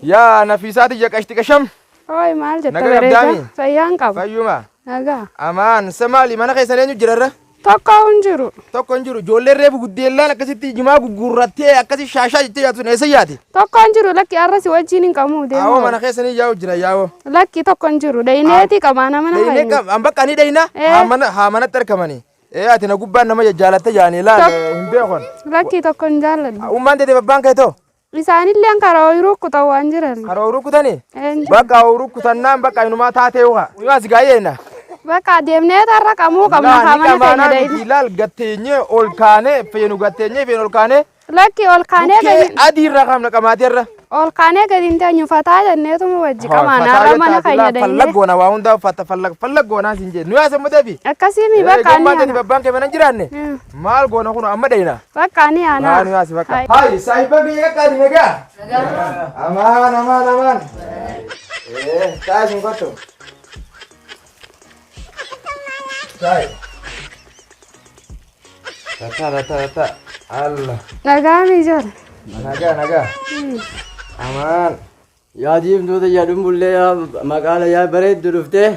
Yaa nafiisaa tiyya qashti qasham. Hooy maal jetta Nagaa bareeda? qabdaami? Fayyaan qaba. Fayyuma. Nagaa. Amaan sa maali mana keessan eenyu jirarra? Tokko hin jiru. Tokko hin jiru ijoolleen reefu guddeellaan akkasitti jimaa gugguurrattee akkasi shaashaa jettee yaatu sun eessa yaati? Tokko hin jiru lakki har'a si wajjin hin qabu Awoo deemu. mana keessanii yaa'u jira yaa'oo. Lakki tokko hin jiru. Dhayineeti qabaa nama nama Dhaynee hin qab an bakka ni dhayna Eh. haa mana haa manatti argamani. Ee ati na gubbaan nama jajjaalatte yaani laal Tok- eh, hin beekon. Lakki tokko hin jaalladhu. Ummaan teetee babbaan kee too. Isaanilleen karaa ooyiruu kutan waan jiran. Karaa ooyiruu kutanii? Bakka ooyiruu kutannaan bakka inumaa taatee uha. Imaa si gaayyeena. Bakka deemnee tarra qamuu qabna haa mana keenya deemna. Ilaal gatteenyee ol kaanee feenu gatteenyee feenu ol kaanee. Lakki ol kaanee gadi. Adii irraa qabna qamaatee irra. Ol kaanee gadi hin teenyu fataa jenneetu mu wajji qamaan har'a mana keenya deemnee. Fallag goona waa hundaa fallag fallag goonaa siin jee. Nuyaa sammuteefi. Akkasii mi bakka ani. Eegummaa tani babbaan kee mana jiraanne. Maal goona kun amma dheeyna? Baqqaa ni aanaa. Haa nu yaasi bakka. Hayi saahiba biyya qaqqaadi nagaa. Amaan amaan amaan. Ee taa isin kottu. Taayi. Tata tata tata. Alla. Nagaa mi ijoole. Nagaa nagaa. Amaan. Yaa diimtuu tiyya dhumbullee yaa maqaala yaa bareeddu dhuftee.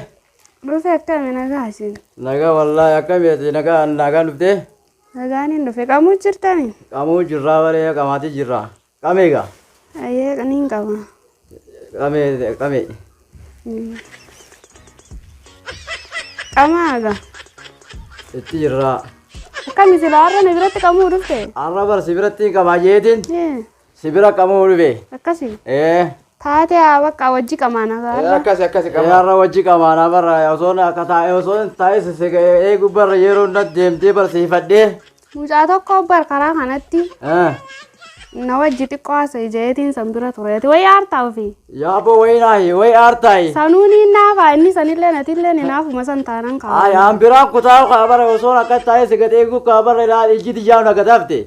Dhufe akkami nagaa isin. Nagaa wallaahi akkami ati nagaa nagaan dhuftee? Nagaan hin dhufe qamuu jirtami. Qamuu jirraa baree qamaatii jirraa. Qamee egaa? Ayyee qaniin qaba. Qamee qamee. Qamaa egaa. Itti jirraa. Akkami silaa har'a na biratti qamuu dhufte? Har'a barsi biratti qamaa jeetiin. Ee. Si bira qamoo dhube. Akkasi. Ee. Taatee haa bakka wajji qamaana Eh, gaara. Akkasi akkasi qaba. Yaarra wajji qamaana barra osoo na akka taa'e osoo hin taa'e si eegu barra yeroo na deemtee barsiifadhee. Mucaa tokko bar karaa kanatti Eh. na wajji xiqqoo haasa'e ijeetiin san bira tureeti. Wayi aartaa ofii. Yaaboo wayii naahi wayii aartaayi. Sanuun hin naafaa inni sanillee natillee ni naafuma san taanan Ay, kaa'u. an biraan kutaa kaa barra osoo na akka taa'e si gad eegu kaa barra ilaali ijji tiyyaa na gad hafte.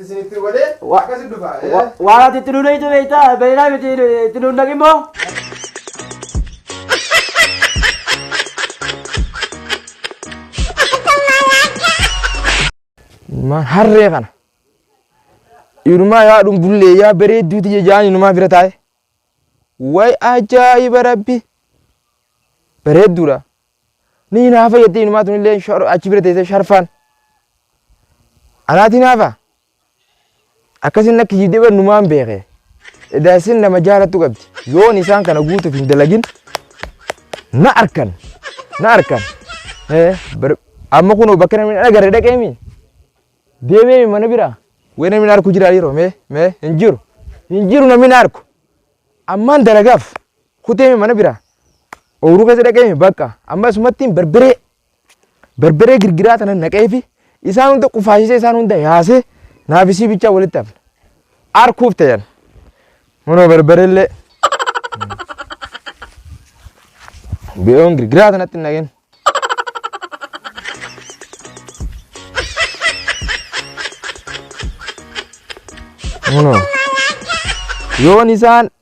isin itti godhee Wa- akkasi dhufa. Wa- Waan ati itti nuunaytu beektaa beeynaa miti itti nuun naqimmoo. Ilmaan harree kana. Inumaa yaa dhumbullee yaa bareedduu tiyya jaan inumaa bira taa'e. Way ajaa'iba rabbi. Bareedduudha. Ni hinaafa jettee inumaa tunillee shor- achi bira teessee sharfaan. Anaati hinaafa. Akkasiin akka kijibdee bar numaan beeke. Edaa isin nama jaalattu qabdi. Yoon isaan kana guutuuf hin dalagin na arkan. Na arkan. Eh, bar- Amma kunoo bakka namni hin agarre dhaqeemi. Deemeemi mana bira. Wee namni na arku jira yeroo mee mee hin jiru. Hin jiru namni na arku. Ammaan dalagaaf. kuteeme mana bira ooruu keessa dhaqeeme bakka amma asumattiin barbaree barbaree girgiraa tanan naqeefi isaan hunda qufaashisee isaan hunda yaasee naafisii bichaa walitti hafne arkuuf ta'an manoo barbareellee bi'oon girgiraa tanatti hin naqeen. Manoo yoon isaan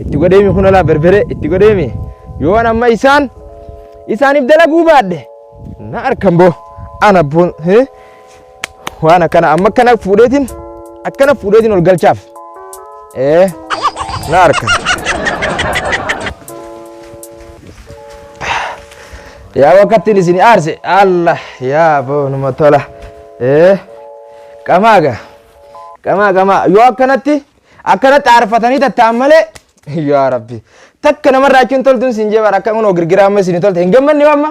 itti godheemi kun olaa berbere itti godheemi yoo an amma isaan isaaniif dalaguu baadhe na arkan boo ana boon Waan akkana amma akkana fuudheetiin akkana fuudheetiin ol galchaaf. Ee na harka. Yaa wakkattiin isin aarse Allah yaa boonuma tola. Ee qamaaga qamaa qamaa yoo akkanatti akkanatti aarfatanii tattaan malee yaa rabbi takka namarraa achiin toltuun siin jee bara akka kunoo girgiraa amma isin tolte hin gammanne amma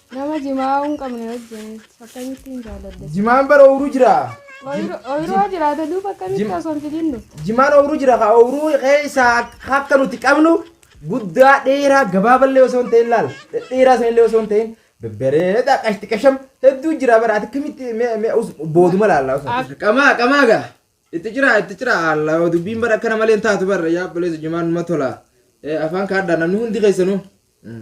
Nama jimaa hin qabne wajjin akkamittiin jaaladhe? Jimaan bara ooyiruu jira. Ooyiruu jiraata duuba akkamitti Jim- osoo hin fidin dhufte? Jimaan ooyiruu jira ka ooyiruu keessa akka nuti qabnu guddaa dheeraa gabaaballee osoo hin ta'in laal dhedheeraa sanillee osoo hin ta'in babbareedaa qashti qasham hedduu jira bara ati akkamitti mee- mee us- booduma laallaa osoo. Ak- Qamaa qamaa gaa itti jira itti jira alla dubbiin bara akkana malee hin taatu bara yaa balleessu jimaan numa tola Eh, afaan kaadhaa namni hundi keessanuu. Mm.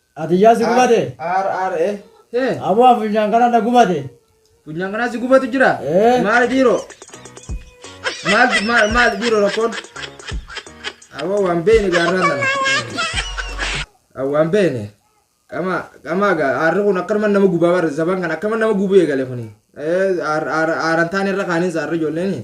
Atiyyaa si gubate. R R E. Hee. Aboo funyaan kana na gubate. Funyaan kanaa si gubatu jira. Ee. Maali dhiiroo? Maal maal maal dhiiroo rakkoon? Aboo waan beekne gaarraa sana. Ah, Waan beekne. Qama qamaa gaa aarri kun akkanuma nama gubaa barre zaban kan akkanuma nama gubuu eegale kuni. Ee aar aar aaran taane irra kaaniin saarri ijoolleen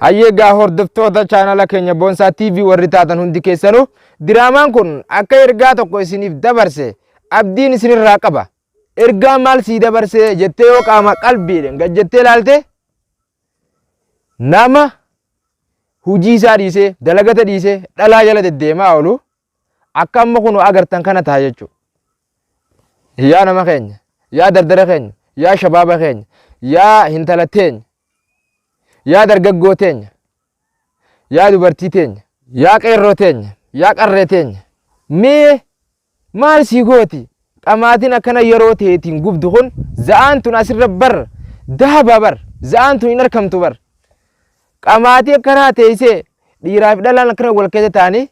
Hayyee egaa hordoftoota chaanala keenya Boonsaa TV warri taatan hundi keessanuu diraamaan kun akka ergaa tokko isiniif dabarse abdiin isinirraa qaba. Ergaa maal sii dabarsee jettee yoo qaama qalbiidhaan gad jettee ilaalte nama hujii isaa dhiisee dalagata dhiisee dhalaa jala deddeemaa oolu Akka amma kunoo agartan kana taha jechuudha. Yaa nama keenya, yaa dardara keenya, yaa shabaaba keenya, yaa hintala teenya, yaa dargaggoo teenya, yaa dubartii teenya, yaa qeerroo teenya, yaa qarree teenya, mee maal sii gooti? Dhamaatiin akkana yeroo teetiin gubdu kun za'aan tun asirra bar dahaba bar za'aan tun hin arkamtu bar Ka maatii akka kanaa teessee dhiiraa fi dhalaan akkana wal keessa taa'anii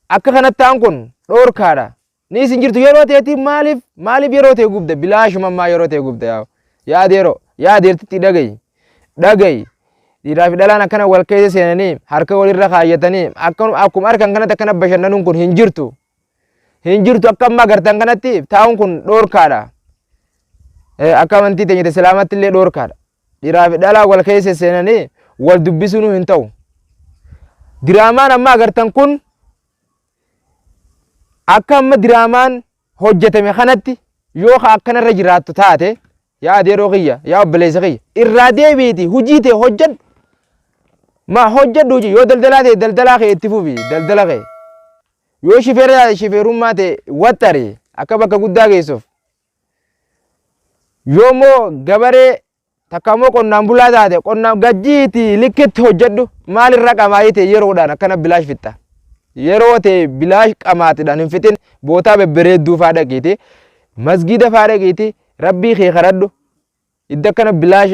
akka kanatti ta'an kun dhoorkaadha. Ni isin jirtu yeroo ta'etti maaliif maaliif yeroo ta'e gubda bilaashuma ammaa yeroo ta'e gubda yaa yaada yeroo yaada irratti dhagayi dhagayi dhiiraa fi dhalaan akkana wal keessa seenanii harka walirra kaayyatanii akkuma harkan kanatti akkana bashannanuun kun hin jirtu. hin jirtu akka amma agartan kanatti taa'uun kun dhoorkaadha. Akka amantii teenya islaamatti illee dhoorkaadha. Dhiraa fi dhalaa wal keessa seenanii wal dubbisuun hin ta'u. Diraamaan amma agartan kun akka amma diraamaan hojjetame kanatti yoo ka akkanarra jiraattu taate yaa adeeroo kiyya yaa obboleessa kiyya irraa deebiiti hojii tee hojjedhu maa hojjedhu hojii yoo daldalaa ta'e daldalaa kee itti fufi daldala kee Yoo shifeera shifeerummaa ta'e waxxari akka bakka guddaa geessuuf. Yoo immoo gabaree takka immoo qonnaan bulaa taate qonnaan gajjiiti likkitti hojjedhu maalirra qamaa'ii ta'e yeroodhaan akkana bilaash fixxa. Yeroo ta'e bilaash qamaatidhaan hin fixin bootaa bebbereedduu faa dhaqiiti masgiida faa dhaqiiti rabbii kee kadhadhu Iddo akkana bilaash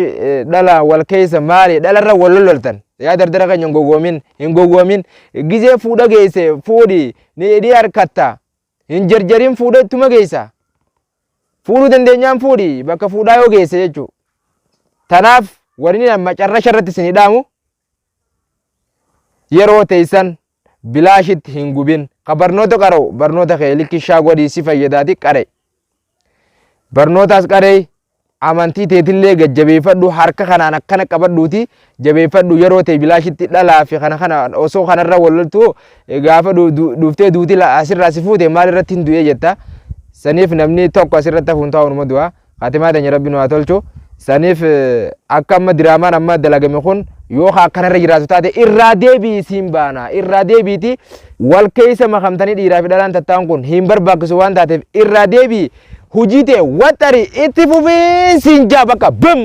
dhalaan wal keessa maali dhalarra wal lololtan yaa dardara keenya hin gowwoomin hin gowwoomin gizee fuudha geesse fuudhi ni hidhii harkatta hin jarjarin fuudha ittuma geessa fuudhuu dandeenyaan fuudhi bakka fuudhaa yoo geesse jechuu tanaaf warri macarrasha irratti isin hidhaamu Yeroo teessan bilaashitti hin gubin. Ka barnoota qara'u barnoota kee likkishaa godhii si fayyadaati qara'i. Barnootaas qara'i amantii teetillee gad jabeeffadhu harka kanaan akkana qabadhuuti jabeeffadhu yeroo ta'e bilaashitti dhalaa fi kana kana osoo kanarra wal loltu gaafa du- du- dhuftee duuti la- asirraa si fuute maal irratti hin du'ee jetta. Saniif namni tokko asirratti hafuun taa'uunuma du'a. Khaatimaa teenya Rabbi nu haa tolchu. Saniif akka amma diraamaan amma dalagame kun yoo ka akkanarra jiraatu taate irraa deebi'i siin baana. Irraa deebiiti wal keessa makamtanii dhiiraa fi dhalaan tattaan kun hin barbaachisu waan taateef irraa deebi'i hujii ta'e waxxari itti fufii siin jaa bakka bim!